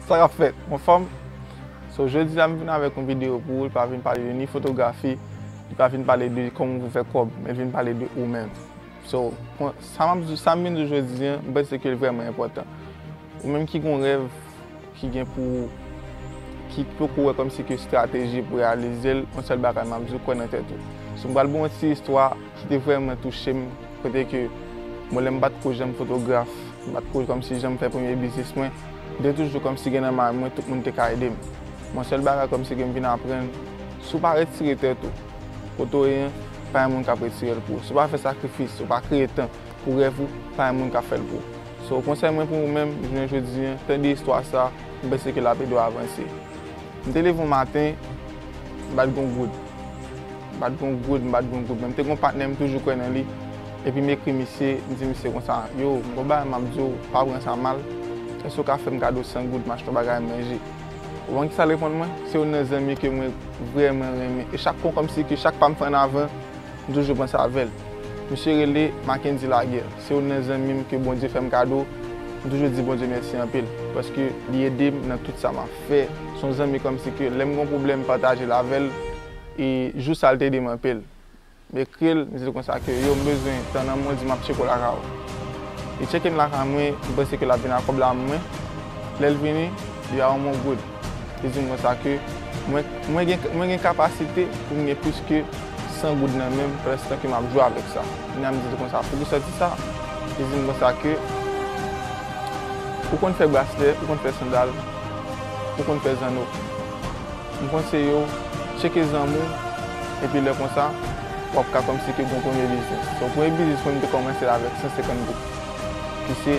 Sa kap fèt mon fanm So jodi a m vin avèk yon video pou ou li pa vin pale de ni fotografi li pa vin pale de kòman pou fè kòb men li vin pale de ou menm So sa map di sa m vin di w jodi a m panse ke l vrèman enpòtan ou menm ki gon rèv ki gen pou ou ki poko wè kòmsi ke strateji pou reyalize l yon sèl bagay map di w kwè nan tèt ou So m pral ba w yon ti istwa Ki te vrèman touche m, kote ke bon lè m pat ko janm fotograf, m pat ko kòmsi janm fè premye biznis mwen, m te toujou kòmsi gen nan may mwen tout moun te ka ede m. Bon sèl bagay kòmsi ke m vin aprann, si w pa retire tèt ou kote w ye, pa gen moun kap retire l pou ou. Si w pa fè sakrifis, si w pa kreye tan pou rèv ou, pa gen moun kap fè l pou ou. So konsèy mwen pou ou menm jounen jodi an, tande istwa sa, m panse ke lap ede w avanse. M te leve yon maten, m pat gen yon goud. M pa t gen yon goud, m pa t gen yon goud men m te gen yon patnè m toujou kwè nan li epi m ekri misye, m di misye konsa, yo, m gen yon bagay m ap di w, pa pran sa mal, èske w ka fè m kado 100 goud m achte yon bagay manje? Ou konn kisa l reponn mwen? Se youn nan zanmi ke mwen vrèman renmen e chak fwa kòmsi ke chak pa m fè an avan, m toujou panse avè l. Misye rele Mackendy Laguerre, se youn nan zanmi m ke Bondye fè m kado, m toujou di Bondye mèsi anpil paske li ede m nan tout sa m ap fè, se yon zanmi kòmsi ke lè m gen yon pwoblèm m pataje l avè l. E jou sa l te demanpe l. M ekri l, m di l konsa ke yo m bezwen tan nan mwen di m ap tcheke w lakay ou. Li tcheke m lakay mwen, m panse ke l ap vin ak kòb la mwen. Lè l vini, li ba mwen yon goud. Li di m konsa ke mwen gen kapasite pou m gen plis ke 100 goud nan men m pèlestan ke m ap jwe avèk sa. Kounye a m di l konsa, poukisa w di sa? Li di m konsa ke ou konn fè braslè, ou konn fè sandal, ou konn fè zanno. M konseyew tcheke zanmi w epi lè konsa wap ka kòmnse ke gon premye biznis so premye biznis mwen m te kòmansel avèk 150 goud ki se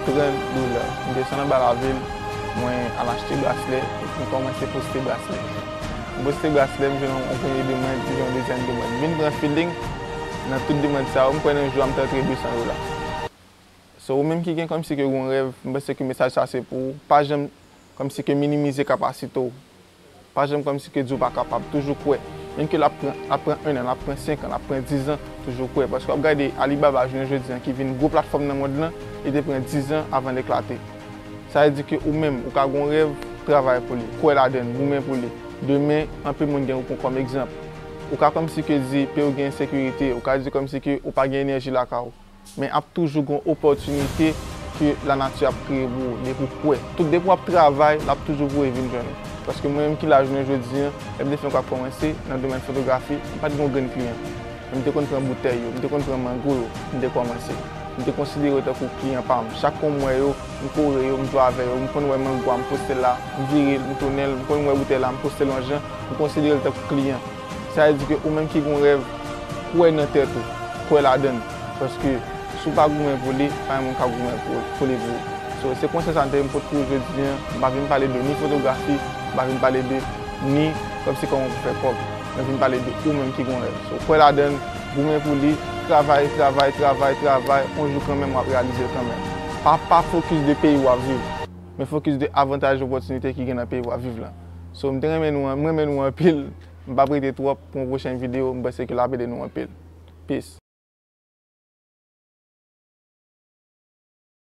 30 dollars m desann anba lavil mwen al achte braslè epi m kòmanse poste braslè m poste braslè m jwenn yon premye demand m jwenn yon dezyèm demand m vin pran feeling nan tout demand sa yo m kwè nan jou a m te antre 200 dollars. So ou menm ki gen kòmsi ke yon rèv, m panse ke mesaj sa se pou ou. Pa janm kòmsi ke minimize kapasite w. Pa janm kòmsi ke di w pa kapab. Toujou kwè. Menm ke l ap pran, l ap pran 1 an, l ap pran 5 an, l ap pran 10 an, toujou kwè. Paske w ap gade Alibaba jounen jodi an ki vin gwo platfòm nan mond lan, li te pran 10 an avan l eklate. Sa vle di ke ou menm, ou ka gen yon rèv, travay pou li, kwè ladan l, goumen pou li. Demen, anpil moun gen pou pran kòm egzanp. Ou ka kòmsi ke di pe ou gen ensekirite, ou ka di kòmsi ke ou pa gen enèji lakay ou. Men ap toujou gon opòtinite ke lanati ap kreye pou ou depi ou kwè. Tout depi wap travay lap toujou voye vin jwenn ou. Paske mwen menm ki la jounen jodi an, lèm te fè yon ka kòmanse nan domèn fotografi, m pat gen yon grenn kliyan. Men m te konn pran boutèy yo, m te konn pran mango yo pou m te kòmanse. M te konsidere yo tankou kliyan pa m. Chak fwa m wè yo, m kore yo, m jwe avè yo. M konn wè mango a, m poste l la, m vire l, m tounen l. M konn wè boutèy la, m poste l yon jan, m konsidere l tankou kliyan. Sa vle di ke ou menm ki gen yon rèv, kwè nan tèt ou, kwè ladan l. Paske si w pa goumen pou li, pa gen moun k ap goumen pou li pou ou. So, se konsèy sa m te vin pote pou ou jodi an. M pa vin pale de ni fotografi, m pa vin pale de ni kòb se kòman pou fè kòb. Mwen vin pale de ou menm ki gen yon rèv. So, kwè ladan l, goumen pou li, travay, travay, travay, travay, yon jou kanmenm w ap reyalize l kanmenm. Pa pa fokis de peyi w ap viv, men fokis de avantaj, opòtinite ki gen nan peyi w ap viv lan. So m te renmen nou m renmen nou anpil m pap rete twòp pou yon pwochen video m panse ke lap ede nou anpil peace.